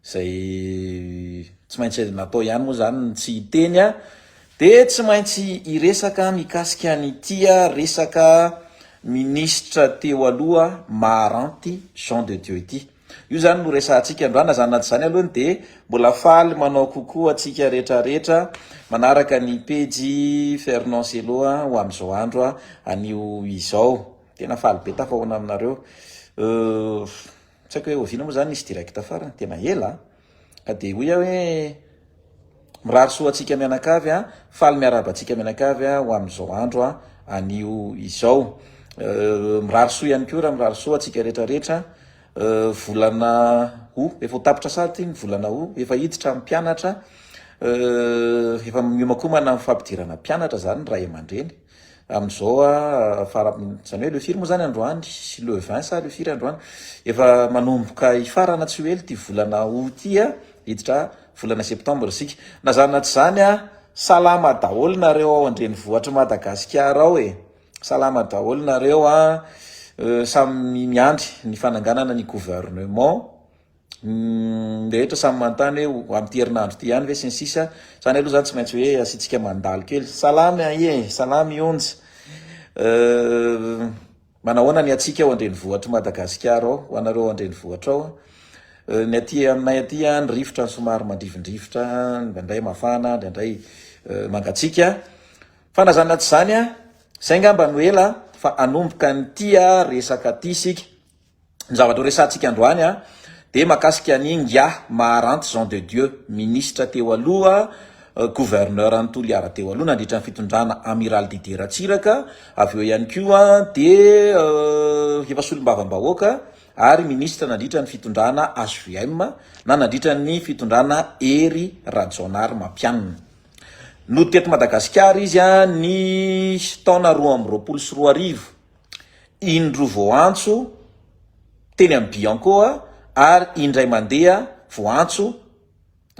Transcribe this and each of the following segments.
Izay tsy maintsy natao ihany moa izany ny tsy hiteny a! Dia tsy maintsy hiresaka mikasika an'ity resaka minisitra teo aloha maharanty Jean de Dieu ity. Io izany no resahantsika androany, na izany na tsy izany aloha dia mbola faly manao coucou antsika rehetrarehetra manaraka ny pejy Fernand Cello ho amin'izao andro anio izao. Tena faly be tafahoana aminareo. Tsy haiko hoe oviana moa izany nisy direct farany, tena ela a! Ka dia hoy aho hoe, Mirary soa antsika mianakavy a! Faly miarahaba antsika mianakavy ho amin'izao andro anio izao. Mirary soa ihany koa raha mirary soa antsika rehetra rehetra. Volana Août, efa ho tapitra sahady ity ny volana Août, efa hiditra ny mpianatra, efa miomakomana ny fampidirana mpianatra izany ny ray aman-dreny. Amin'izao fara, izany hoe Lefir moa zany androany sy le vingt sa Lefir androany, efa manomboka hifarana tsy ho ela ity volana aout ity, hiditra volana septembre isika. Na zany na tsy zany a, salama daholo nareo ao an-drenivohitr'i Madagasikara ao e! Salama daholo nareo a, samy miandry ny fananganana ny gouvernement. ny rehetra samy manontany hoe ho amin'ity herinandro ity ihany ve sy ny sisa izany aloha izany tsy maintsy hoe asiantsika mandalo kely salamy aie salamy onjy euh, manahoana ny atsika ao andrenivohitr'i madagasikara ao ho anareo ao andrenivohitra ao euh, ny aty aminay aty any rivotra ny somary mandrivondrivotra ndraindray mafana ndraindray euh, mangatsika fa na zany na tsy izany a izay ngamba no ela fa anomboka ny tia resaka ty isika ny zavatra ho resahantsika androany dia mahakasika an'i Ingahy Maharanty Jean de Dieu, minisitra teo aloha, gouverneur an'i Toliara teo aloha nandritra ny fitondrana Amiral Didier Ratsiraka, avy eo ihany koa dia efa solombavambahoaka ary minisitra nandritra ny fitondrana HVM na nandritra ny fitondrana Hery Rajaonarimampianina. Nody teto Madagasikara izy ny taona roa amby roapolo sy roa arivo. indro voaantso teny amin'ny Biancoa ary indray mandeha voaantso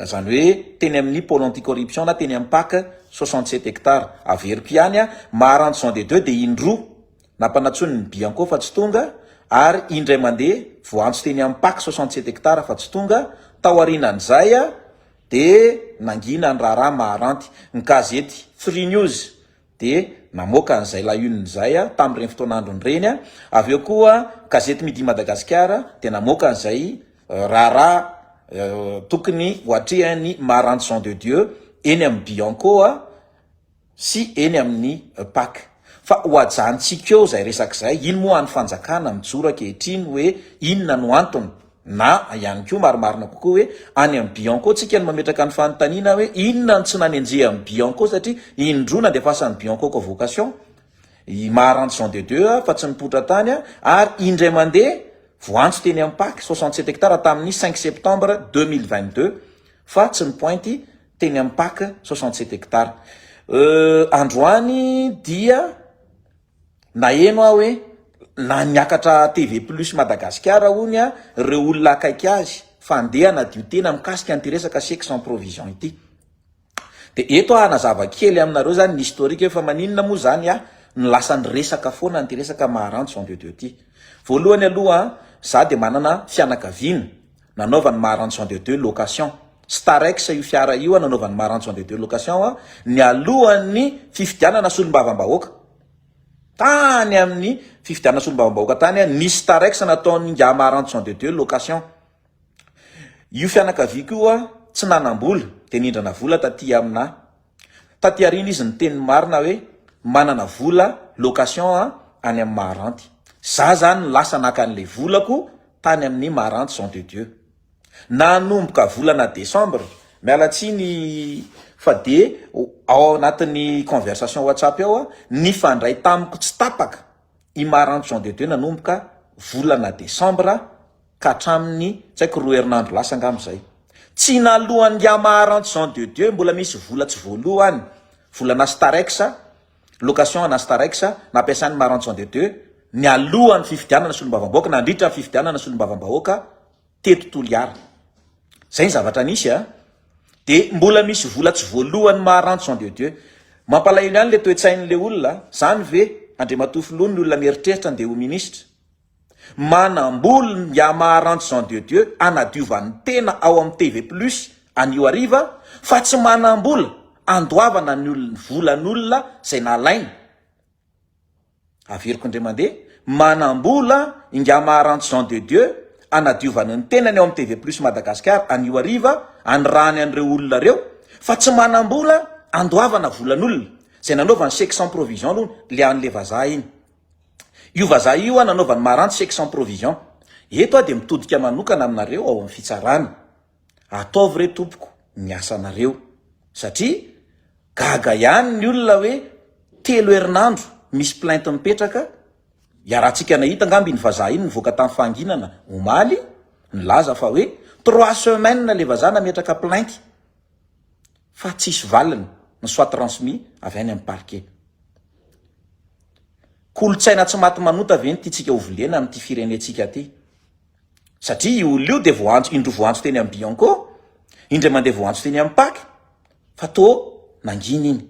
izany hoe teny amin'ny pôle anti-corruption na teny amin'ny pac soixante sept hectares. Averiko ihany a, Maharano Jean de Dieu dia indro nampanantsoiny ny Bianco fa tsy tonga ary indray mandeha voaantso teny amin'ny pac soixante sept hectares fa tsy tonga, tao aorianan'izay dia nangina ny raharaha Maharanty. Ny gazety Free News dia namoaka an'izay La Une izay tamin'ireny fotoana androny ireny, avy eo koa gazety Midi Madagasikara dia namoaka an'izay raharaha tokony ho atrehan'i Maranty Jean de Dieu eny amin'ny Bianco sy eny amin'ny Pac. Fa ho ajanontsika eo izay resaka izay, iny moa any fanjakana mijoro ankehitriny hoe inona no antony? Na ihany koa marimarina kokoa hoe any amin'ny Bianco tsika no mametraka ny fanontaniana hoe inona no tsy nanenjeha ny Bianco satria indroa nandefasan'ny Bianco convocation i Maharantso Jean de Dieu fa tsy nipoitra tany ary indray mandeha voantso teny amin'ny pac soixante sept hectares tamin'ny cinq septembre deux mille vingt deux fa tsy nipointy teny amin'ny pac soixante sept hectares euh, androany dia Naheno aho hoe lany niakatra TV plus Madagasikara hono ireo olona akaiky azy fa handeha hanadio tena mikasika an'ity resaka chèque sans provision ity. Dia eto aho hanazava kely aminareo izany ny historique hoe fa maninona moa izany no lasa niresaka foana an'ity resaka Maharano Jean de Dieu ity. Voalohany aloha izaho dia manana fianakaviana nanaovan'i Maranzon de Dieu location, Starex io fiara io nanaovan'i Maranzon de Dieu location nialohan'ny fifidianana solombavambahoaka. Tany amin'ny fifidianana solombavambahoaka tany nisy Starex nataon'ingahy Maranzon de Dieu location. Io fianakaviako io tsy nanam-bola dia nindrana vola taty aminà. Taty aoriana izy niteny ny marina hoe manana vola location aho any amin'ny Maharanty. Za zany no lasa naka an'ilay volako tany amin'ny Maharanty Jean de Dieu. Nanomboka volana décembre, miala tsiny fa de ao anatin'ny conversation WhatsApp ao nifandray tamiko tsy tapaka i Maharanty Jean de Dieu nanomboka volana décembre, ka hatramin'ny tsy haiko roa herinandro lasa angamba izay. Tsy naloan'ingahy Maharante Jean de Dieu mbola misy vola tsy voaloa any, volanà Starex, location anà Starex nampiasain'i Maharante Jean de Dieu nialohan'ny fifidianana solombavambahoaka, nandritra ny fifidianana solombavambahoaka teto Toliara. Izay ny zavatra nisy a! Dia mbola misy vola tsy voaloan'i Maharante Jean de Dieu. Mampalahelo ihany ilay toe-tsain'ilay olona, izany ve Andriamatoa Filoha ny olona mieritreritra andeha ho minisitra? Manambola ny Yamaha-Rancho Jean de Dieu hanadiovan'ny tena ao amin'ny TV Plus anio hariva fa tsy manambola handoavana ny volan'olona izay nalainy. Averiko indray mandeha, manambola ny Yamaha-Rancho Jean de Dieu hanadiovany ny tenany ao amin'ny TV Plus Madagascar anio hariva hanirahany an'ireo olona ireo fa tsy manambola handoavana volan'olona izay nanaovany chèque sans provision aloha le an'le vazaha iny. Io vazaha io an anaovany maranty chèque sans provision. Eto aho dia mitodika manokana aminareo ao amin'ny fitsarana. Ataovy re tompoko ny asanareo. Satria gaga ihany ny olona hoe telo herinandro misy plainte mipetraka, iarahantsika nahita angamba iny vazaha iny nivoaka tamin'ny fahanginana omaly nilaza fa hoe trois semaines ilay vazaha nametraka plainte. fa tsisy valiny ny soit transmis avy any amin'ny parquet. Kolontsaina tsy maty manota ve ny tiantsika ho volena amin'ity firenentsika ity? Satria io olona io dia voantso, indroa voantso teny amin'ny Bianco, indray mandeha voantso teny amin'ny Pac, fa toa nangina iny.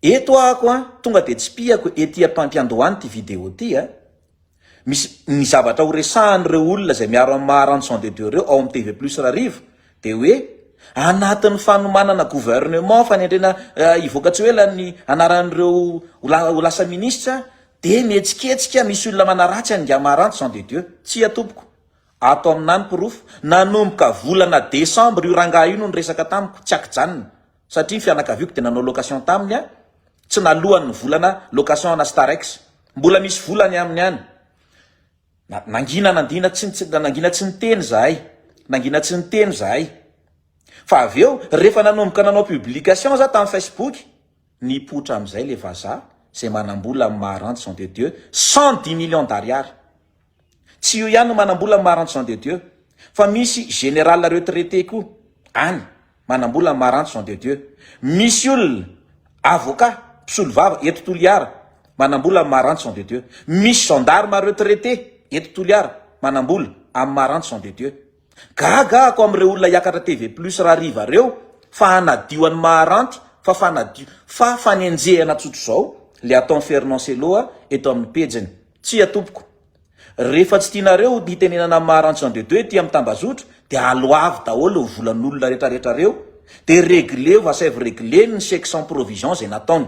Eto aho ko an, tonga dia tsipihako ety am-pampiandohana ity video ity an. Misy ny zavatra ho resahan'ireo olona izay miaro an'i Maharanjo sans de deux ireo ao amin'ny TV plus Rariva dia hoe anatin'ny fanomanana gouvernement, fanendrena hivoaka tsy ho ela ny anaran'ireo ho lasa minisitra dia mihetsiketsika misy olona manaratsy an'ingahy Maharanjo sans de deux. Tsia tompoko. Ato amina ny porofo. Nanomboka volana desambra io rangahy io no niresaka tamiko, tsy ankijanona. satria ny fianakaviako dia nanao location taminy a, tsy nalohany ny volana location ana Starex, mbola misy vola any aminy any, na nangina nandina tsy nitsy nangina tsy niteny zahay, nangina tsy niteny zahay, fa avy eo rehefa nanomboka nanao publication za tam Facebook, nipoitra amizay le vazaha zay manambola am maharanty Jean de Dieu cent dix millions d'ariary. Tsy io ihany no manambola ny Maharantso Jean de Dieu fa misy général retraité koa any manambola ny Maharantso Jean de Dieu. Misy olona avocat, mpisolovava eto Toliara manambola amin'ny Maharantso Jean de Dieu. Misy gendarme retraité eto Toliara manambola amin'ny Maharantso Jean de Dieu. Gaga ako am reo olona hiakatra TV plus rariva reo fa hanadio an'i Maharanty fa fanadio fa fanenjehana tsotro zao le ataon Fernand Cello a eto aminy pejiny. Tsia tompoko. Refa tsy tianareo hitenenana am Maharanty Jean de Dieu ety am Tambazotro de aloavy daholo ny volan'olona retraretra reo de regleo va saivo regleny ny chèque sans provision zay nataony.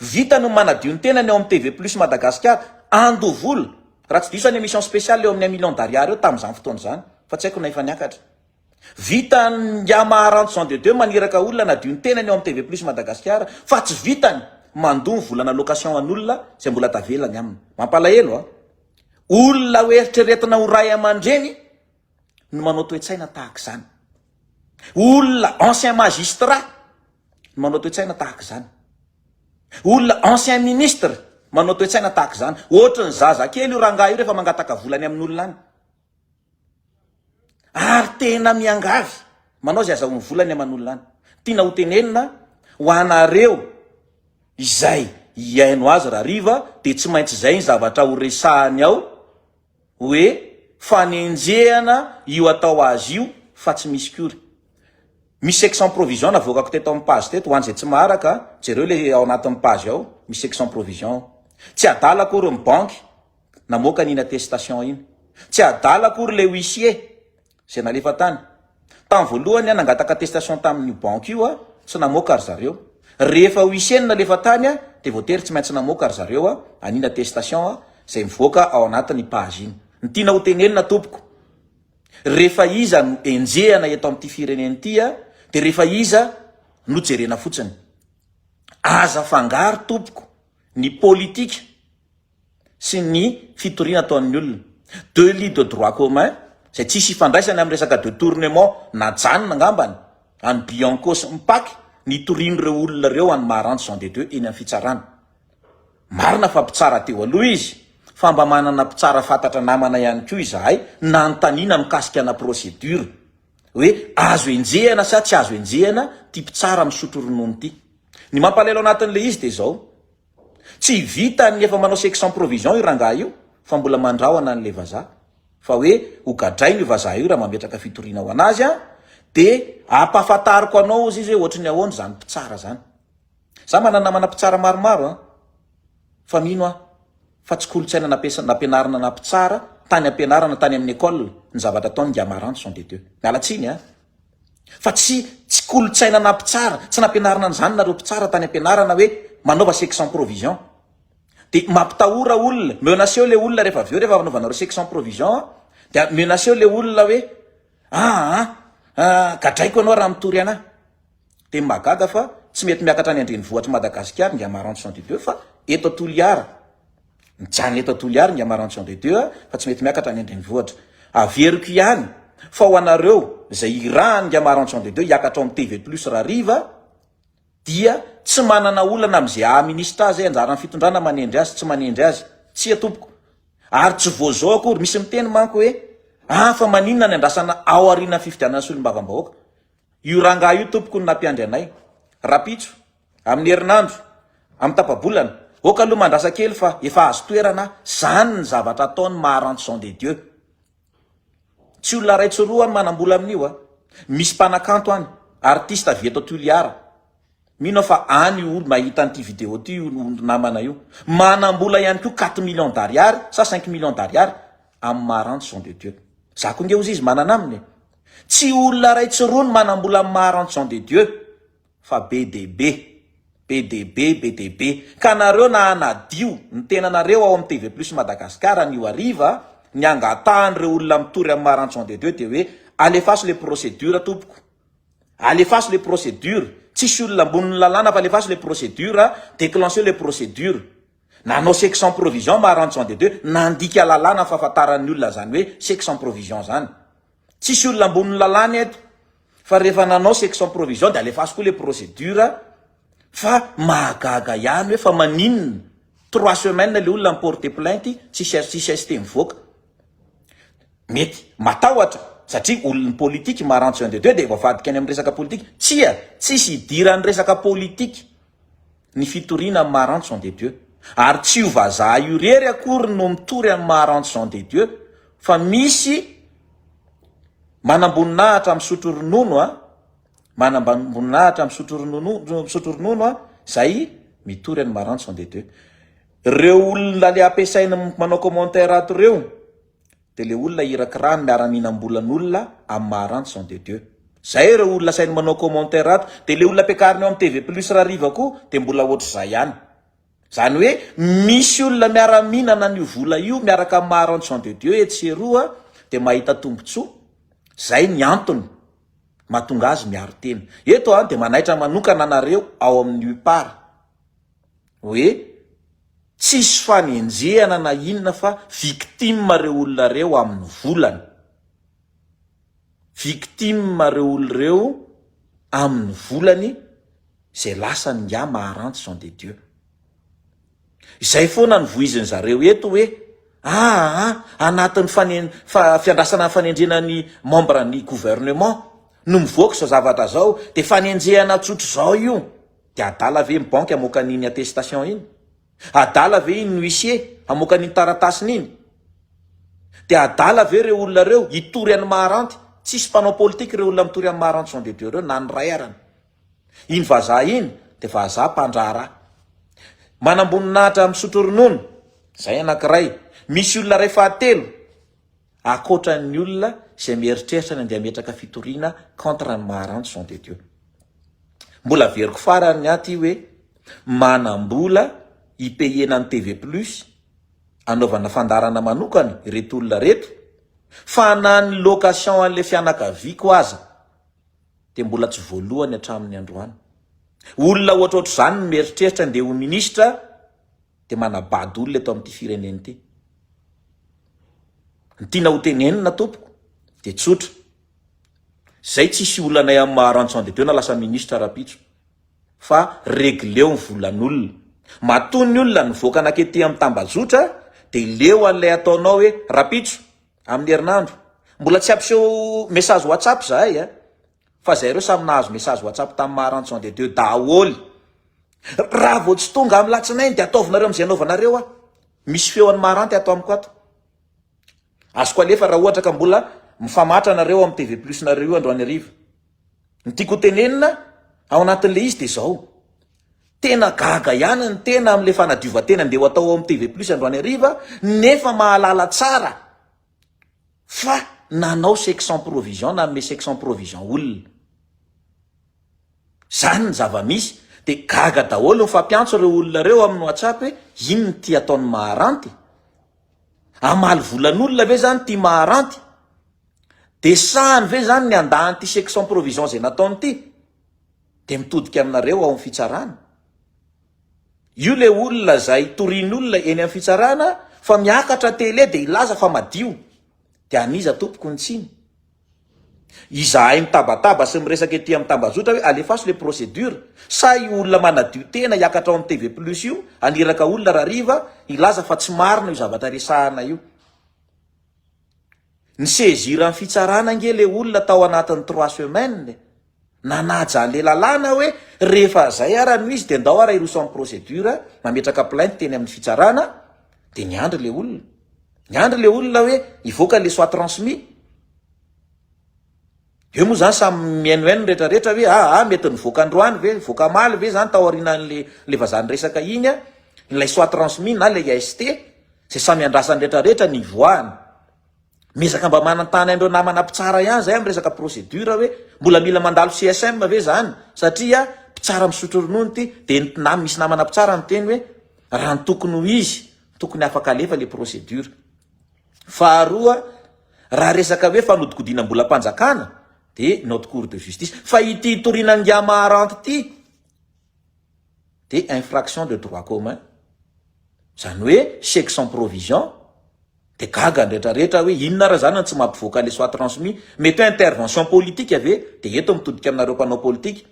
Vita ny manadio ny tenany ao amin'ny TV Plus Madagasikara, andoha vola, raha tsy diso any emission spéciale eo amin'ny un million d'ariary eo tamin'izany fotoana izany, fa tsy haiko na efa niakatra. Vita Ndya Maharantso Jean de Dieu maniraka olona hanadio ny tenany ao amin'ny TV Plus Madagasikara, fa tsy vitany mandoa ny volana location an'olona izay mbola tavela ny aminy. Mampalahelo a! Olona ho eritreretina ho ray aman-dreny, no manao toe-tsaina tahaka izany. Olona ancien magistrat no manao toe-tsaina tahaka izany. Olona ancien ministre manao toe-tsaina tahaka izany. Ohatry ny zaza kely io rangahy io rehefa mangataka vola any amin'olona any. Ary tena miangavy manao izay azahoany vola any aman'olona any. Tiana ho tenenina ho anareo izay hihaino azy rahariva dia tsy maintsy izay ny zavatra horesahany ao Hoe fanenjehana io atao azy io fa tsy misy kory. Misy section provision navoakako teto amin'ny page teto, ho an'izay tsy maharaka, jereo le ao anatin'ny page ao, misy section provision ao. Tsy adala akory ny banky namoaka an'iny attestation iny. Tsy adala akory le huissier. Izay nalefa tany. Tamin'ny voalohany aho nangataka attestation tamin'io banky io aho, tsy namoaka ry zareo. Rehefa huissier no nalefa tany aho dia voatery tsy maintsy namoaka ry zareo aho an'iny attestation izay mivoaka ao anatin'ny page iny. Ny tiana ho tenenina tompoko, rehefa iza no enjehana eto amin'ity firenena ity a, dia rehefa iza no jerena fotsiny. Aza afangaro tompoko ny politika. sy ny fitoriana ataon'ny olona. Deux lits de droit commun izay tsy hisy ifandraisany amin'ny resaka de tournement najanona angambany an'i Bianco sy Mpaky nitorian'ireo olona ireo an'i Maharantsy Jean de Dieu eny amin'ny fitsarana. Marina fa mpitsara teo aloha izy fa mba manana mpitsara fantatra namana ihany koa izahay nanontaniana mikasika ana procédure hoe azo enjehana sa tsy azo enjehana ity mpitsara misotro ronono ity. Ny mampalahelo anatin'ilay izy dia izao. Tsy vitan ny efa manao sexe sans provision io rangahy io fa mbola mandrahona anle vazaha fa hoe ho gadraina io vazaha io raha mametraka fitoriana ho anazy an de ampahafantariko anao ozy izy hoe ohatry ny ahoana zany mpitsara zany za manana namana mpitsara maromaro an fa mino aho fa tsy kolotsaina nampiasa nampianarina na mpitsara tany ampianarana tany amin'ny ecole ny zavatra ataony ngy amaranth sont des deux miala tsiny an Fa tsy tsy kolontsaina na mpitsara, tsy nampianarina an'izany nareo mpitsara tany ampianarana hoe manaova sexe sans provision. Dia mampitahora olona, menace-eo ilay olona rehefa avy eo rehefa anaovanareo sexe sans provision dia menace-eo ilay olona hoe aa gadraiko ianao raha mitory anah. Dia mahagaga fa tsy mety miakatra any an-drenivohitr'i Madagasikara Ingamarantsoa Andidieu fa eto Toliara Mijanona eto Toliary ny Amarantion de Dieu fa tsy mety miakatra any an-drenivohitra. Averiko ihany fa ho anareo izay irahan'ny ny Amarantion de Dieu hiakatra ao amin'ny TV Plus Rariva dia tsy manana olana amin'izay haha-ministra azy, anjaran'ny fitondrana manendry azy, tsy manendry azy. Tsia tompoko. Ary tsy vao izao akory, misy miteny manko hoe ah fa maninona ny andrasana ao aorianan'ny fifidianana solombavambahoaka. Io rangahy io tompoko no nampiandry anay. Rapitso. Amin'ny herinandro, amin'ny tapa-bolana, aoka aloha mandrasa kely fa efa azo toerana zany ny zavatra ataony maha rançon de Dieu. Tsy olona iray tsy roa ny manambola amin'io a! Misy mpanakanto any, artiste avy eto Toliara. Mino aho fa any io olo mahita an'ity vidéo ity io olo namana io. Manambola ihany koa quatre millions d'ariary sa cinq millions d'ariary amin'ny maha rançon de Dieu. Za koa nge ozizy manana aminy e! Tsy olona iray tsy roa ny manambola amin'ny maha rançon de Dieu. fa be dia be, be dia be, be dia be, ka nareo na hanadio ny tenanareo ao amin'ny TV Plus Madagascar anio hariva, ny angatahan'ireo olona mitory amin'i Maranchon de Dieu dia hoe alefaso ilay procédure tompoko, alefaso ilay procédure, tsisy olona ambonin'ny lalàna fa alefaso ilay procédure, déclencheo ilay procédure. Nanao chèque sans provision Maranchon de Dieu, nandika lalàna fahafantaran'ny olona izany hoe chèque sans provision izany. Tsisy olona ambony lalàna eto fa rehefa nanao section provision dia alefaso koa le procédure fa mahagaga ihany hoe fa maninona trois semaines le olona mi-porter plainte tsisy azo tsisy ST mivoaka. Mety matahotra satria olon'ny politique marantsy un de deux dia voavadika any amin'ny resaka politique. Tsia, tsisy idiran'ny resaka politique. ny fitoriana amin'i Maharantso Jean de Dieu. Ary tsy io vazaha io irery akory no mitory amin'i Maharantso Jean de Dieu fa misy manamboninahitra misotro ronono a, manamboninahitra misotro ronono, misotro ronono a, izay mitory an'i Maharantso Jean de Dieu. Ireo olona le ampiasainy manao commentaire ato ireo, Dia le olona hirakira ny miara-mihinam-bolan'olona amin'ny maha ranch sont de Dieu. Zay ireo olona asainy manao commentaire ato. Dia le olona ampiakariny eo amin'ny TV plus rariva koa dia mbola ohatr'izay ihany. Zany hoe misy olona miara-mihinana an'io vola io miaraka amin'ny maha ranch sont de Dieu etsy sy eroa dia mahita tombotsoa. Zay ny antony mahatonga azy miaro tena. Eto aho dia manaitra manokana anareo ao amin'ny UPAR hoe tsisy fanenjehana na inona fa victime reo olona reo aminy volana, victime reo olona reo aminy volany izay lasany ingahy Maharantsy Jean de Dieu. Izay foana no vohiziny zareo eto hoe aa anatiny fane fa fiandrasana fanenjehana ny membre ny gouvernement no mivoaka izao zavatra izao dia fanenjehana tsotra izao io De adala ve ny banky hamoaka an iny attestation iny? Adala ve iny huissier hamoaka an iny taratasiny iny? De adala ve reo olona reo hitory an ny maharanty? Tsisy mpanao politique reo olona mitory an ny maharanty sont de Dieu reo na ny ray arany. Iny vazaha iny de vazaha mpandraharaha. Manamboninahitra misotro ronono, zay anakiray. Misy olona ray fahatelo. Ankoatra ny olona izay mieritreritra ny andeha hametraka fitoriana contre an'i Maharano Jean de Dieu. Mbola averiko farany ny ahy ity hoe manam-bola hipayena ny TV plus hanaovana fandaharana manokana ireto olona ireto fa na ny location an'ilay fianakaviako aza dia mbola tsy voaloany hatramin'ny androany. Olona ohatrohatr'izany no mieritreritra handeha ho ministra dia manabado olona eto amin'ity firenena ity. Ny tiana ho tenenina tompoko dia tsotra, zay tsisy olanay amin'ny maha Ranson de Dieu na lasa ministra rapitso fa regleo ny volan'olona. Matoa ny olona nivoaka nakety amin'ny tambajotra dia leo an'ilay ataonao hoe rapitso amin'ny herinandro. Mbola tsy hampiseho message WhatsApp zahay a! Fa zay reo samy nahazo message WhatsApp tam maha ranson de Dieu daholy. Raha vao tsy tonga am latsinainy de ataovinareo amzay anaovanareo aho. Misy feo an'i Maranty ato amiko ato. Azoko alefa raha ohatra ka mbola mifamatra nareo am TV plus nareo io androany hariva. Ny tiako ho tenenina ao anatin'le izy de zao. Tena gaga ihany ny tena amle fanadiovan-tena nde ho atao ao am TV plus androany hariva nefa mahalala tsara fa nanao chèque sans provision nanome chèque sans provision olona. Zany ny zava-misy dia gaga daholo mifampiantso ireo olona ireo amin'ny WhatsApp hoe inona ity ataon'ny maharanty? Hamaly volan'olona ve zany ity maharanty? Dia sahany ve zany ny handà an'ity chèque sans provision izay nataony ity? Dia mitodika aminareo ao am fitsarana. Io le olona zay torian'olona eny am fitsarana fa miakatra tele dia hilaza fa madio. Dia an'iza tompoko ny tsiny? Izahay mitabataba sy miresaka ety am tambazotra hoe alefaso le procedure sa io olona manadio tena hiakatra ao am TV plus io haniraka olona rariva hilaza fa tsy marina io zavatra resahana io. Ni saisir ny fitsarana ange le olona tao anatiny trois semaines e! Nanaja anle lalàna hoe rehefa zay ara no izy de ndao ara hiroso am procedure mametraka plainte teny aminy fitsarana de niandry le olona. Niandry le olona hoe hivoaka le soit transmis. Ve moa izany samy mihaino haino ny rehetra rehetra ve? Ah ah mety nivoaka androany ve? Nivoaka amaly ve izany tao aorianan'ilay ilay vazaha niresaka iny an? Ilay soit transmis na ilay AST izay samy iandrasan'ny rehetra rehetra ny hivoahany. Miezaka mba manantany an'ireo namana mpitsara ihany izay amin'ny resaka procédure hoe mbola mila mandalo CSM ve izany satria mpitsara misotro ronono ity dia ny na misy namana mpitsara niteny hoe raha ny tokony ho izy tokony afaka alefa ilay procédure. Faharoa, raha resaka hoe fanodikodinam-bolam-panjakana dia notre cour de justice, fa ity hitoriana Ngiamaharanty ity dia infraction de droit commun, izany hoe chèque sans provision, dia gaga ny retraretra hoe inona ary izany no tsy mampivoaka ilay soit transmis, mety hoe intervention politique ve dia eto mitodika aminareo mpanao politika,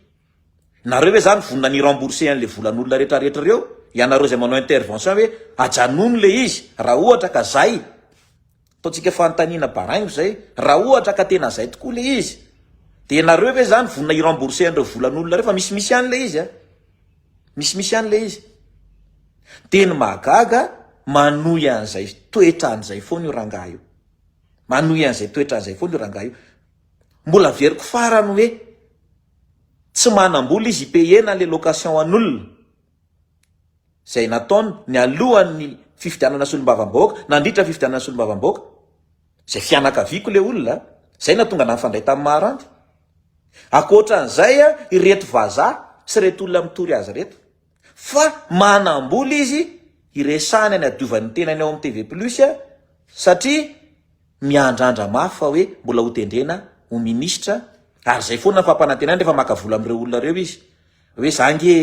Nareo ve zany vonona ny rembourser anle volan'olona rehetra rehetra reo? Ianareo izay manao intervention hoe ajanony le izy raha ohatra ka zay, ataontsika fanontaniana baraingo zay, raha ohatra ka tena zay tokoa le izy dia nareo ve zany vonona hi rembourser an'ireo volan'olona reo fa misimisy ihany le izy a! Misimisy ihany le izy. Dia ny mahagaga manohy an'izay toetra an'izay foana io rangahy io. Manohy an'izay toetra an'izay foana io rangahy io. Mbola averiko farany hoe Tsy manambola izy hipayer-na ilay location an'olona. Izay nataony nialohan'ny fifidianana solombavambahoaka, nandritra ny fifidianana solombavambahoaka. Izay fianakaviako ilay olona, izay no nahatonga anà nifandray tamin'i Maharanty. Ankoatra an'izay, ireto vazaha sy ireto olona mitory azy ireto. Fa manam-bola izy hiresahana ny hadiovany ny tenany ao amin'ny TV plus satria miandrandra mafy fa hoe mbola ho tendrena ho minisitra ary izay foana ny fampanantenany rehefa maka vola amin'ireo olona ireo izy hoe za ange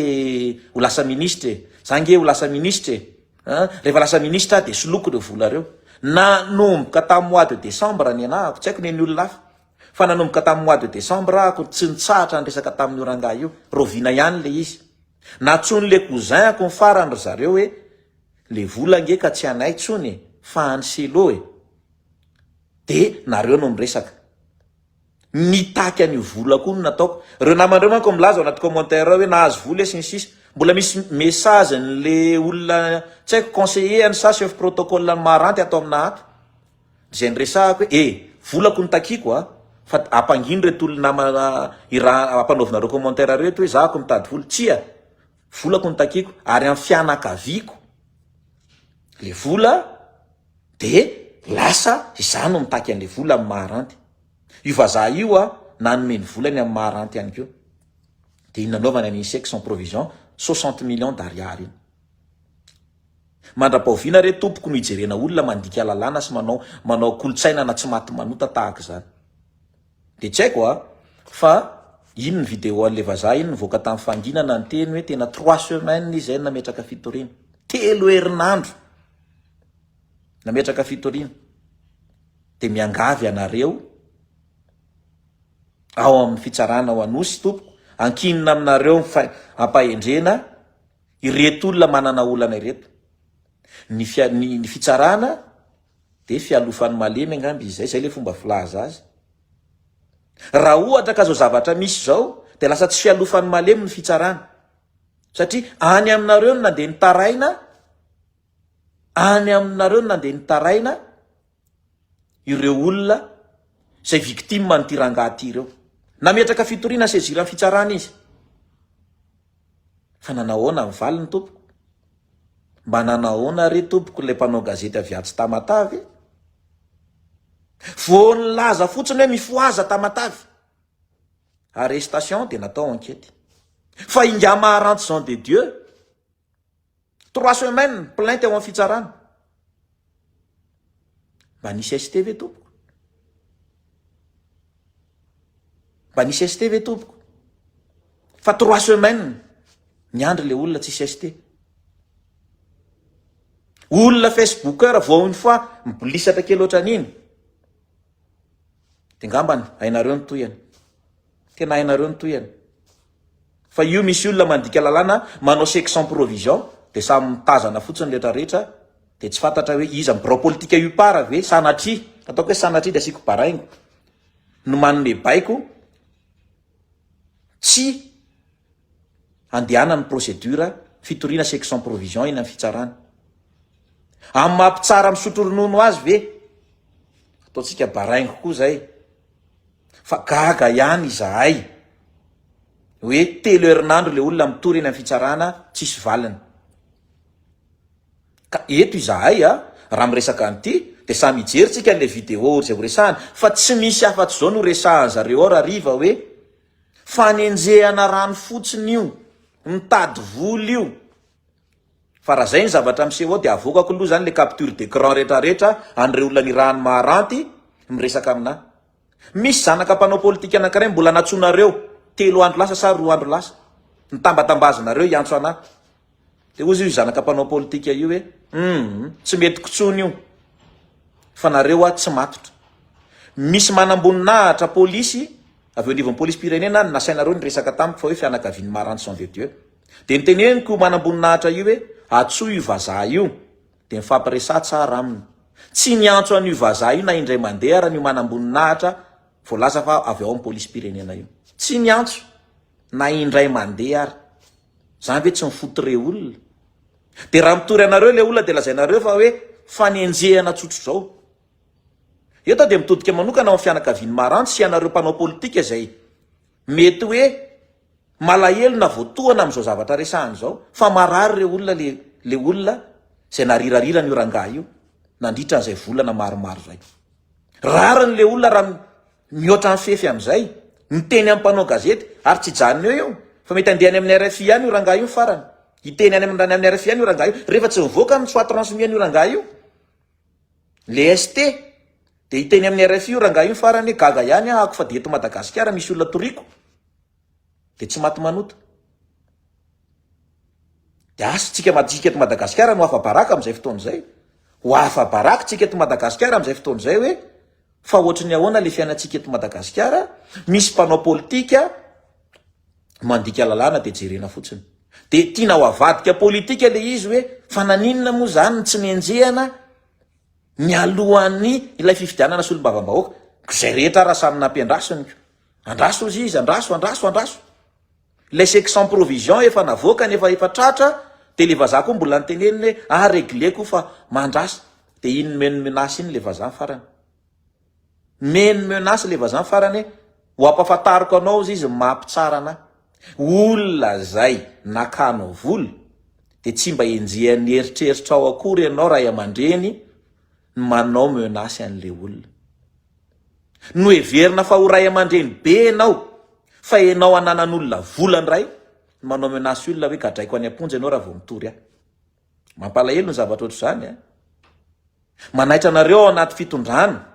ho lasa minisitra e, za ange ho lasa minisitra e, an, rehefa lasa minisitra aho dia soloiko ireo vola ireo. Nanomboka tamin'ny mois de décembre nianahako, tsy haiko ny an'ny olona hafa, Fa nanomboka tamin'ny mois de décembre ako tsy nitsahatra niresaka tamin'io rangahy io, raoviana ihany le izy. Natsoin'le cousin-ko ny farany ry zareo hoe le vola ange ka tsy anay tsony e, fa any Selo e. De nareo no miresaka. Mitaky an'io vola koa no nataoko. Reo naman'reo manko milaza ao anaty commentaire ao hoe nahazo vola e sy ny sisa. Mbola misy message-n'le olona tsy haiko conseiller any sa chef protocole any Maharanty ato amina ato. Zay niresahako hoe eh volako no takiako a! fa ampangino reto olona namana iraha ampanaovina reo commentaire reo eto hoe za ko mitady vola, tsia! volako no takiako ary am fianakaviako le vola de lasa izaho no mitaky anle vola am maha ranty io vazaha io a! nanome ny volany am maha ranty ihany ko de iny nanaovany an insects en provision soixante millions d'ariary iny. Mandra-pahoviana re tompoko no hijerena olona mandika lalàna sy manao manao kolontsaina na tsy maty manota tahaka izany? Dia tsy haiko a! Fa iny ny video an'ilay vazaha iny nivoaka tamin'ny fanginana niteny hoe tena trois semaines izy zay no nametraka fitoriana. Telo herinandro nametraka fitoriana. Dia miangavy ianareo ao amin'ny fitsarana ao Anosy tompoko, ankinina aminareo ny fahaendrena. Ireto olona manana olana ireto. Ny fia, ny, ny fitsarana dia fialofan'ny malemy angamba izy izay, izay ilay fomba filaza azy. Raha ohatra ka izao zavatra misy izao dia lasa tsy fialofan'ny malemy ny fitsarana. Satria any aminareo no nandeha nitaraina, any aminareo no nandeha nitaraina, ireo olona izay victime an'ity rangahy ity ireo. Nametraka fitoriana saisir ny fitsarana izy. Fa nanao ahoana ny valiny tompoko? Mba nanao ahoana re tompoko ilay mpanao gazety avy atsy Tamatave? Vao nilaza fotsiny hoe mifohaza Tamatave. Arrestation dia natao enquête. Fa ingahy Maharantson de Dieu Trois semaines plainte ao am fitsarana. Mba nisy ST ve tompoko? Mba nisy ST ve tompoko? Fa trois semaines niandry le olona tsisy ST. Olona Facebooker vao une fois mibolisatra kely ohatran'iny. Dia ngambany hainareo ny tohiny. Tena hainareo ny tohiny. Fa io misy olona mandika lalàna manao chèque sans provision dia samy mitazana fotsiny rehetra rehetra dia tsy fantatra hoe iza ny birao politika UPAR ve sanatria, ataoko hoe sanatria dia asiako baraingo, no manome baiko tsy handehanan'ny procédure fitoriana section provision eny amin'ny fitsarana. Amin'ny maha mpitsara misotro ronono azy ve? Ataontsika baraingo koa izay fa gaga ihany izahay hoe telo herinandro ilay olona mitory eny amin'ny fitsarana tsisy valiny. Ka eto izahay a, raha miresaka an'ity, dia samy hijery tsika an'ilay vidéo izay ho resahana, fa tsy misy afatsy izao no resahan zareo ao rahariva hoe, fanenjehana rano fotsiny io, mitady vola io, fa raha izay ny zavatra miseho ao dia avoakako loha izany ilay capture d'écran retraretra an'ireo olona nirahany maharanty miresaka aminà Misy zanaka mpanao politika anankiray mbola nantsoinareo telo andro lasa sa roa andro lasa, nitambatambazinareo hiantso anà. Dia hozy io zanaka mpanao politika io hoe, humm, tsy mety kotsony io fa nareo wa tsy matotra. Misy manamboninahitra polisy avy eo anivon'ny polisim-pirenena ny nasainareo niresaka tamiko fa hoe fianakavian'i Marantsy Jean de Dieu. Dia noteneniko io manamboninahitra io hoe, antsoy io vazaha io. Dia nifampiresaha tsara aminy. Tsy niantso an'io vazaha io na indray mandeha ary an'io manamboninahitra voalaza fa avy ao amin'ny polisim-pirenena io. Tsy niantso na indray mandeha ary. Izany ve tsy mi-foutre olona? Dia raha mitory anareo ilay olona dia lazainareo fa hoe fanenjehana tsotr'izao. Eto aho dia mitodika manokana ho amin'ny fianakavian'i Maranty sy ianareo mpanao politika izay mety hoe Malahelo na voatohana amin'izao zavatra resahana izao fa marary ireo olona le le olona izay narirariran' io rangahy io nandritra an'izay volana maromaro izay. Rariny le olona raha mihoatra mifefy amin'izay miteny amin'ny mpanao gazety ary tsy hijanona eo io fa mety handeha any amin'ny rfi any io rangahy io ny farany. Hiteny any amin' ny rfi any io rangahy io rehefa tsy mivoaka ny soit transmis an'io rangahy io le ST dia hiteny amin'ny rfi io rangahy io ny farany hoe gaga ihany ahako fa dia eto Madagasikara misy olona toriako. Dia tsy maty manota. Dia asa tsika matsika eto Madagasikara no afa baraka amin'izay fotoana izay. Ho afa baraka tsika eto Madagasikara amin'izay fotoana izay hoe fa ohatry ny ahoana ilay fiainantsika eto Madagasikara, misy mpanao politika mandika lalàna dia jerena fotsiny. Dia tiana ho avadika politika ilay izy hoe fa naninona moa izany ny tsy nenjehana mialohan'ny ilay fifidianana solombavambahoaka. Koa izay rehetra ara samy nampiandrasiny. Andraso ozy izy, andraso, andraso, andraso. Ilay chèque sans provision efa navoakany efa efa tratra dia ilay vazaha koa mbola niteneniny hoe ah regleko fa mandrasa. Dia iny nomeny menace iny ilay vazaha farany. Nomeny menace ilay vazaha farany hoe ho ampafantariko anao ozy izy ny maha mpitsara anahy. Olona izay nakanao vola dia tsy mba enjehan'ny eritreritrao akory ianao ray aman-dreny, ny manao menace an'le olona. Noheverina fa ho ray aman-dreny be enao fa enao ananan'olona vola ndray ny manao menace olona hoe gadraiko any am-ponja enao raha vao mitory ahy. Mampalahelo ny zavatra ohatr'izany a! Manaitra anareo ao anaty fitondrana,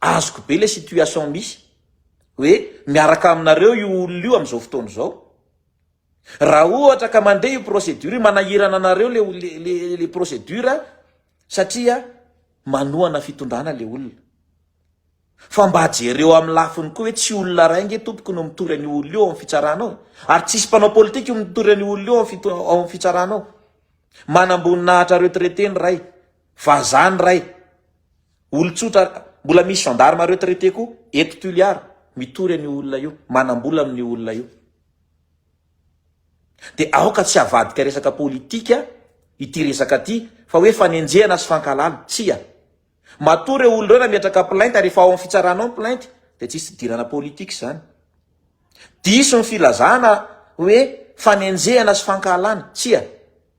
azoko be le situation misy hoe miaraka aminareo io olona io amin'izao fotoana izao. Raha ohatra ka mandeha io procédure io, manahirana anareo le le le procédure satria manohana fitondrana le olona. Fa mba jereo amin'ny lafiny koa hoe tsy olona iray nge tompoko no mitory an'io olona io ao amin'ny fitsarana ao e. Ary tsisy mpanao politika io mitory an'io olona io ao amin'ny ao amin'ny fitsarana ao. Manamboninahitra retraité ny iray, vazaha ny iray, olon-tsotra, mbola misy gendarme retraité koa eto Toliara mitory an'io olona io, manam-bola amin'io olona io. Dia aoka tsy havadika resaka politika ity resaka ity fa hoe fanenjehana sy fankahalana. Tsia. Matoa ireo olona ireo nametraka plainte ary efa ao amin'ny fitsarana ao ny plainte dia tsisy fidirana politika izany. Diso ny filazana hoe fanenjehana sy fankahalana. Tsia.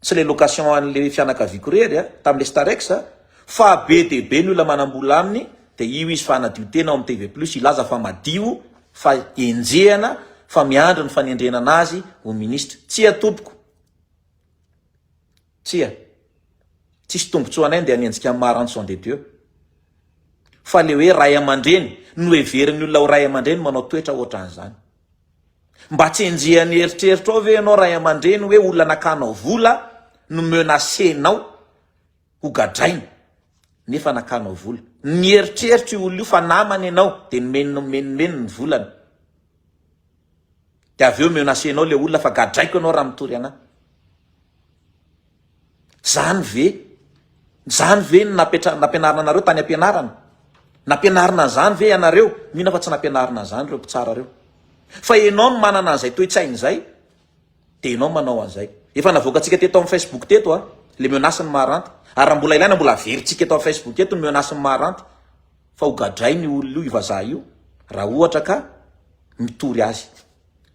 Tsy le location anle fianakaviako rery a, tamle starex a, fa be dia be ny olona manambola aminy dia io izy fa hanadio tena ao am TV plus hilaza fa madio fa enjehana fa miandry ny fanendrenana azy ho ministra. Tsia tompoko. Tsia. Tsisy tombotsoa anay ndeha hanenjika an'i Maranson de Dieu. Fa le hoe ray aman-dreny, noheverin'ny olona ho ray aman-dreny manao toetra otran'izany. Mba tsy enjehan'ny eritreritra ao ve ianao ray aman-dreny hoe olona nakanao vola no menacenao ho gadraina nefa nakanao vola. Nieritreritra io olona io fa namany ianao dia nomeny nomeninomeny ny volany. Dia avy eo menacenao ilay olona fa gadraiko ianao raha mitory an'ahy. Zany ve? Zany ve no nampianarina anareo tany ampianarana? Nampianarina an'izany ve ianareo? Mino aho fa tsy nampianarina an'izany ireo mpitsara ireo. Fa ianao no manana an'izay toe-tsaina izay, dia ianao manao an'izay. Efa navoakantsika teto amin'ny Facebook teto an, ilay menace ny maharanty. Ary raha mbola ilaina, mbola averintsika eto amin'ny Facebook eto ny menace ny maharanty, fa hogadrain'io olona io, io vazaha io, raha ohatra ka mitory azy.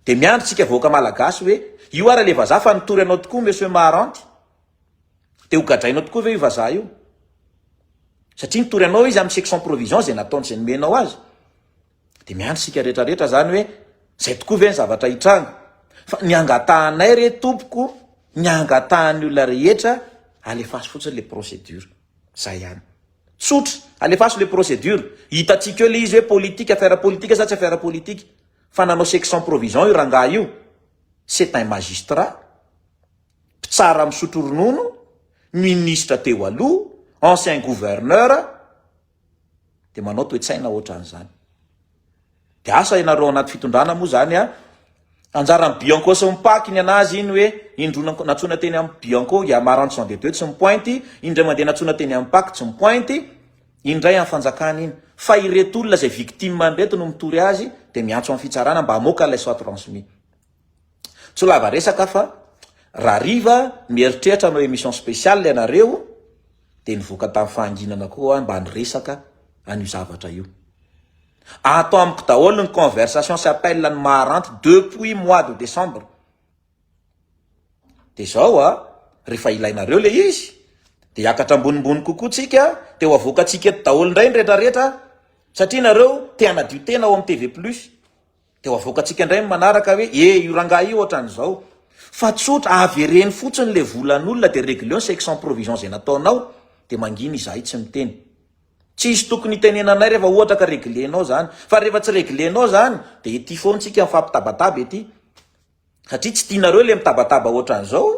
Dia miandry tsika vahoaka malagasy hoe io ary le vazaha fa nitory anao tokoa monsieur Maharanty? Dia ho gadrainao tokoa ve io vazaha io? Satria nitory anao izy amin'ny section provision zay nataony zay nomenao azy. Dia miandry tsika rehetra rehetra zany hoe zay tokoa ve ny zavatra hitranga? Fa ny angatahanay re tompoko, ny angatahan'ny olona rehetra alefaso fotsiny le procédure. Zay ihany. Tsotra, alefaso le procédure. Hitantsika eo le izy hoe politique, affaire politique sa tsy affaire politique. Fa nanao section provision io rangahy io, c'est un magistrat, mpitsara misotro ronono, ministra teo aloha, ancien gouverneur, dia manao toe-tsaina ohatran'izany. Dia asa ianareo anaty fitondrana moa izany an, anjaran'ny bianco sy ny pac ny an'azy iny hoe indroa nantsoina teny amin'ny bianco, i Amaranth Jean de Dieu tsy mipointy, indray mandeha nantsoina teny amin'ny pac tsy mipointy, Iny ndray an fanjakana iny fa ireto olona izay victime ireto no mitory azy dia miantso am fitsarana mba hamoaka ilay soit transmis. Tsy ho lava resaka fa raha hariva mieritreritra hanao emission spéciale ianareo dia nivoaka tam fahanginana koa mba niresaka an'io zavatra io. Ato amiko daholo ny conversation sy appel ny maharanty depuis mois de décembre. Dia izao a, rehefa ilainareo ilay izy, dia hiakatra ambonimbony kokoa tsika, dia ho avoakantsika eto daholo indray ny retraretra, satria nareo te hanadio tena ao amin'ny TV plus, dia ho avoakantsika indray ny manaraka hoe e, io rangahy io ohatran'izao, fa tsotra, avereno fotsiny ilay volan'olona dia reglions c'est que sans provision izay nataonao, dia mangina izahay tsy miteny. Tsisy tokony hitenenanay rehefa ohatra ka reglenao izany, fa rehefa tsy reglenao izany, dia ety foana tsika mifampitabataba ety, satria tsy tianareo le mitabataba ohatran'izao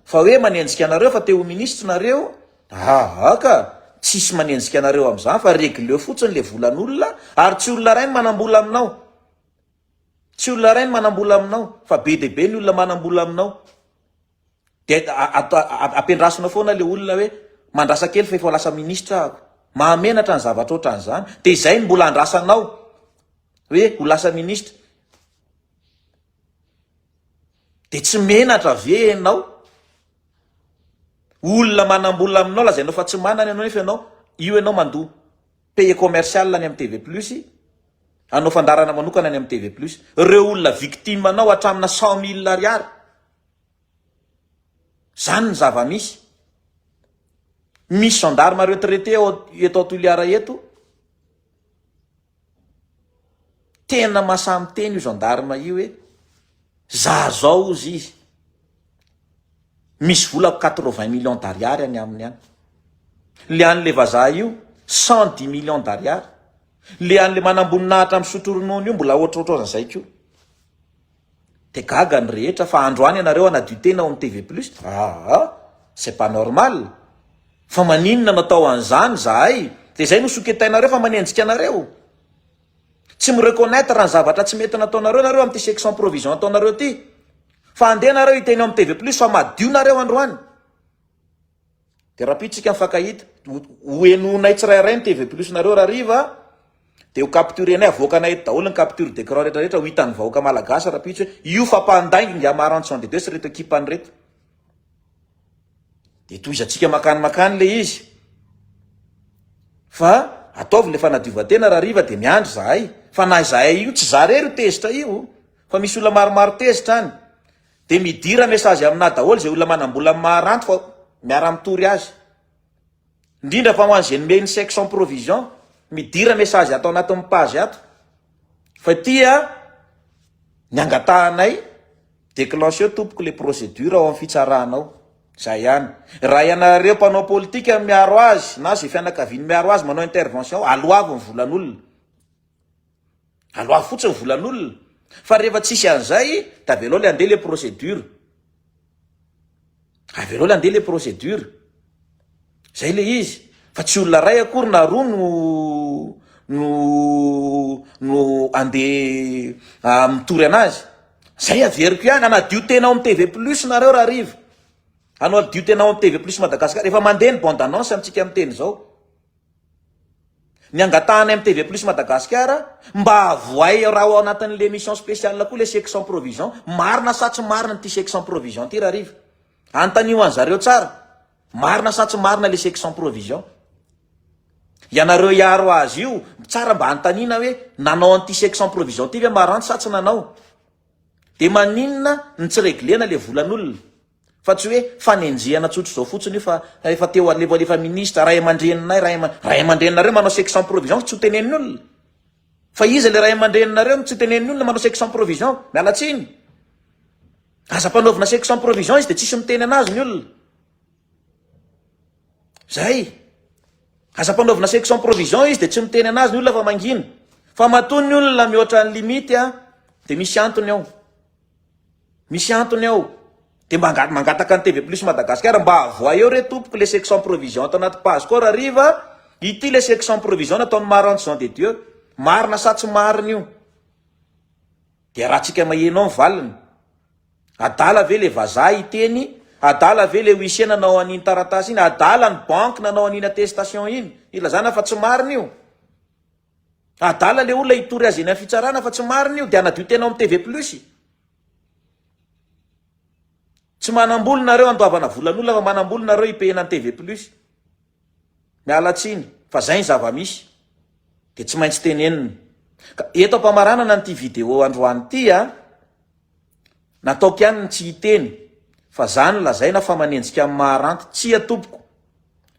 fa hoe manenjika anareo fa te ho ministre nareo aa ka tsisy manenjika anareo amzany fa regleo fotsiny le volan'olona ary tsy olona ray ny manambola aminao tsy olona ray ny manambola aminao fa be de be ny olona manambola aminao de ampiandrasina foana le olona hoe mandrasa kely fa efa lasa ministre ako mahamenatra ny zavatra ohatran'izany de izay ny mbola andrasanao hoe ho lasa ministre Dia tsy menatra ve enao? Olona manambola aminao lazainao fa tsy manana enao nefa enao io enao mandoa paye commercial any am TV plus anao fandaharana manokana any am TV plus reo olona victime anao atramina cent mille ariary zany ny zava misy misy gendarme retraite ao eto toliara eto Tena masaha miteny io gendarme io eh! Za zao ozy izy misy vola quatre vingt millions d'ariary any aminy any. Le any le vazaha io cent dix millions d'ariary. Le any le manamboninahitra misotro ronono io mbola ohatrohatrozany zay koa. Dia gaga ny rehetra fa androany ianareo hanadio tena ao amin'ny TV plus? Aa! C'est pas normal! Fa maninona no atao an'izany izahay? Dia izay no soketainareo fa manenjika anareo? Tsy mi-reconnaitre ny zavatra tsy mety nataonareo ianareo amin'ity section provision ataonareo ity? Fa andeha ianareo hiteny ao amin'ny TV plus fa madio nareo androany! Dia rahampitsika mifankahita. Ho henoinay tsirairay ny TV plus nareo raha hariva a! Dia ho capturenay, avoakanay eto daholo ny capture d'écran rehetra rehetra ho hitan'ny vahoaka malagasy rahampitso hoe io fapandainga ingahy Marantsson Dede sy ireto ekipany ireto. Dia tohizantsika makany makany ilay izy. Fa ataovy ilay fanadiovan-tena raha hariva dia miandry izahay. Fa na izahay io, tsy izaho irery io tezitra io. Fa misy olona maromaro tezitra any. Dia midira message aminà daholo izay olona manam-bola amin'ny maha-ranty fa miara-mitory azy. Indrindra fa ho an'izay nomeny chèque sans provision, midira message ato anatin'ny page ato fa ity an ny angatahanay, déclencheo tompoko ilay procédure ao amin'ny fitsarana ao. Izay ihany. Raha ianareo mpanao politika no miaro azy na izay fianakaviany miaro azy manao intervention, aloavy ny volan'olona. Aloaha fotsiny volan'olona fa rehefa tsisy an'izay dia avelao le andeha le procédure. Avelao le andeha le procédure. Zay le izy fa tsy olona ray akory na roa no no no andeha mitory anazy. Zay averiko ihany anadio tena ao amin'ny TV plus nareo raha hariva. Anadio tena ao amin'ny TV plus Madagascar. Efa mandeha ny bande annonce amintsika miteny izao. Ny angatahanay amin'ny TV Plus Madagasikara mba avohay raha ao anatin'ilay émission spéciale koa ilay chèque sans provision, marina sa tsy marina ity chèque sans provision ity rahariva? Anontanio an'i zareo tsara, marina sa tsy marina ilay chèque sans provision? Ianareo hiaro azy io, tsara mba anontaniana hoe nanao an'ity chèque sans provision ity ve Maranty sa tsy nanao? Dia maninona no tsy reglena ilay volan'olona? Fa tsy hoe fanenjehana tsotra izao fotsiny io fa efa teo alevo alefa ministra, ray aman-dreninay, ray aman, ray aman-dreninareo manao sexe sans provision fa tsy ho tenenin'ny olona. Fa iza ilay ray aman-dreninareo no tsy tenenin'ny olona manao sexe sans provision? Miala tsiny. Aza ampanaovina sexe sans provision izy dia tsisy miteny anazy ny olona. Zay. Aza ampanaovina sexe sans provision izy dia tsy miteny anazy ny olona fa mangina. Fa matoa ny olona mihoatra ny limite dia misy antony ao. Misy antony ao. Dia mba anga mangataka an'i TV Plus Madagascar mba avoaeo re tompoko le section provision ato anaty page corps hariva ity le section provision nataon'i Maranto Jean de Dieu. Marina sa tsy marina io? Dia arahantsika maheno ao ny valiny. Adala ve le vazaha hiteny? Adala ve le huissier nanao an'iny taratasy iny? Adala ny banque nanao an'iny attestation iny? Ilazana fa tsy marina io? Adala le olona hitory azy eny am fitsarana fa tsy marina io de anadio tena ao am TV plus e. Tsy manambola nareo andoavana volan'olona fa manambola nareo hipehena an TV plus. Miala tsiny fa zay ny zavamisy de tsy maintsy tenenina. Ka eto ampamaranana an'ity video androany ity a. Nataoko ihany ny tsy hiteny fa za no lazaina fa manenjika amin'ny maharanty, tsia tompoko!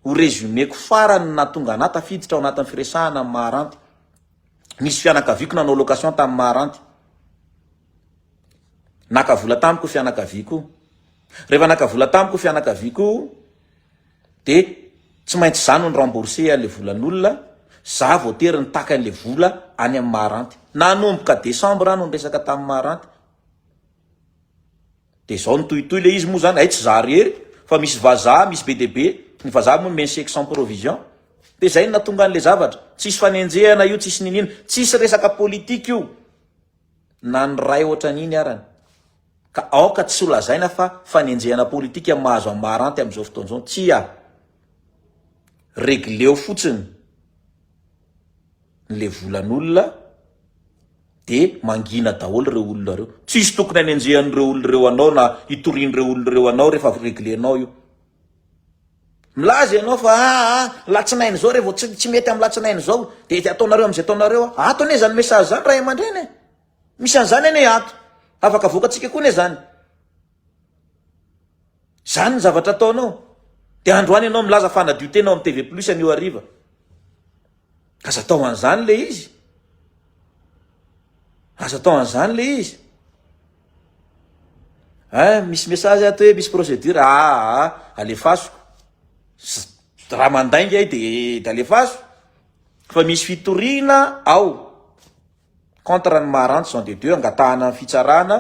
ho résumeko farany ny nahatonga anah tafiditra ao anatin'ny firesahana amin'ny maharanty. Nisy fianakaviako nanao location tamin'ny maharanty. Naka vola tamiko ny fianakaviako. Rehefa naka vola tamiko ny fianakaviako, de tsy maintsy za no ny rembourser anle volan'olona, za voatery nitaka anle vola any amin'ny maharanty, nanomboka décembre aho no niresaka tamin'ny maharanty, de zao nitohitohy le izy moa zany, hay tsy za rery fa misy vazaha misy be dia be, ny vazaha moa nomeny chèque sans provision, de zay no nahatonga anle zavatra, tsisy fanenjehana io tsisy n'inona, tsisy resaka politique io na ny ray otran'iny arany. Ka aoka tsy ho lazaina fa fanenjehana politika mahazo an'i Maharanty amin'izao fotoana izao. Tsia. Regleo fotsiny ny le volan'olona dia mangina daholo ireo olona ireo. Tsisy tokony hanenjehan'ireo olona ireo anao na hitorian'ireo olona ireo anao rehefa avy reglenao io. Milaza ianao fa aa latsinainy izao revo tsy mety amin'ny latsinainy izao dia ataonareo amin'izay ataonareo. Ato anie izany message izany ray aman-dreny e! Misy an'izany anie ato. Afaka avoakantsika koa anie izany. Izany ny zavatra ataonao. Dia androany ianao milaza fa hanadio tena ao amin'ny TV Plus anio hariva. Aza atao an'izany ilay izy. Aza atao an'izany ilay izy. Eh, misy message ato hoe misy procédure. Ah, ah, ah alefasiko. Raha mandainga ahy dia alefaso. Fa misy fitoriana ao. Contre ny maha rantsy Jean de Dieu angatahana ny fitsarana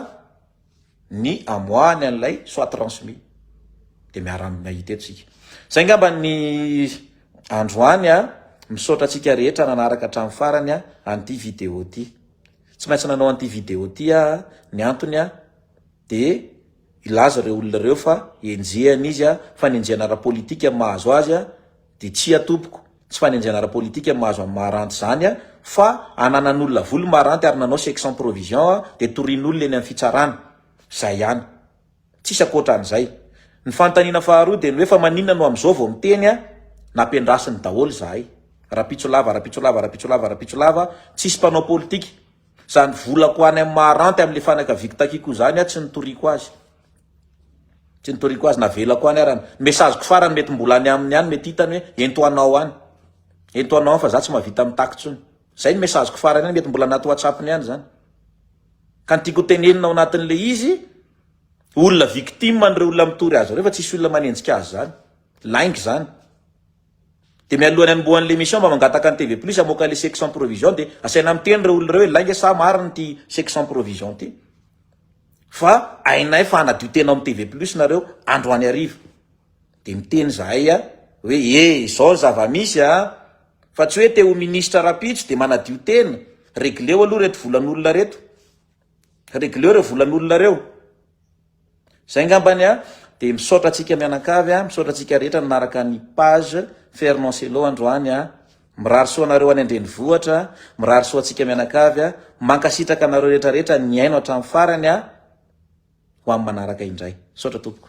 ny amoahany an'ilay soit transmis dia miara mahita eto tsika. Zay ngamba ny androany a, misaotra antsika rehetra nanaraka hatramin'ny farany a an'ity vidéo ty. Tsy maintsy nanao an'ity vidéo ty a ny antony a dia hilaza ireo olona ireo fa enjehan'izy a, fa ny enjehana ara-politika mahazo azy a dia tsia tompoko. Tsy fanenjehana ara-politika no mahazo an'i Maharanty izany a! Fa ananan'olona vola i Maharanty ary nanao chèque sans provision a! Dia torian'olona eny amin'ny fitsarana. Izay ihany. Tsisy ankoatran'izay. Ny fanontaniana faharoa dia ny hoe fa maninona no amin'izao vao miteny a! Nampiandrasiny daholo izahay. Rampitso lava, rampitso lava, rampitso lava, rampitso lava, tsisy mpanao politika. Izany volako any amin'i Maharanty amin'ilay fanaka viky takiako izany a! Tsy nitoriako azy. Tsy nitoriako azy navelako any ara ny message ko farany mety mbola any aminy any mety hitany hoe ento anao any ento anao any fa za tsy mahavita mitaky tsony zay ny message ko farany any mety mbola anaty whatsapp ny any zany ka ny tiko tenenina ao anatiny le izy olona victime an'ireo olona mitory azy ireo fa tsisy olona manenjika azy zany lainga zany Dia mialohan'ny hanombohany le mission mba mangataka ny TV plus hamoaka le chèque sans provision dia asaina miteny reo olona reo hoe lainga sa marina ity chèque sans provision ity fa hainay fa hanadio tena ao amin'ny TV plus nareo androany hariva dia miteny zahay a hoe e izao ny zava-misy a fa tsy hoe te ho ministra rapitso dia manadio tena regleo aloha reto volan'olona reto Regleo reo volan'olona reo. Zay ngambany a, de misaotra antsika mianankavy a, misaotra antsika rehetra nanaraka ny page Fernand Cello androany a. Mirary soa anareo any an-drenivohitra, mirary soa antsika mianankavy a. Mankasitraka anareo rehetra rehetra nihaino hatramin'ny farany a. Ho amin'ny manaraka indray. Misaotra tompoko.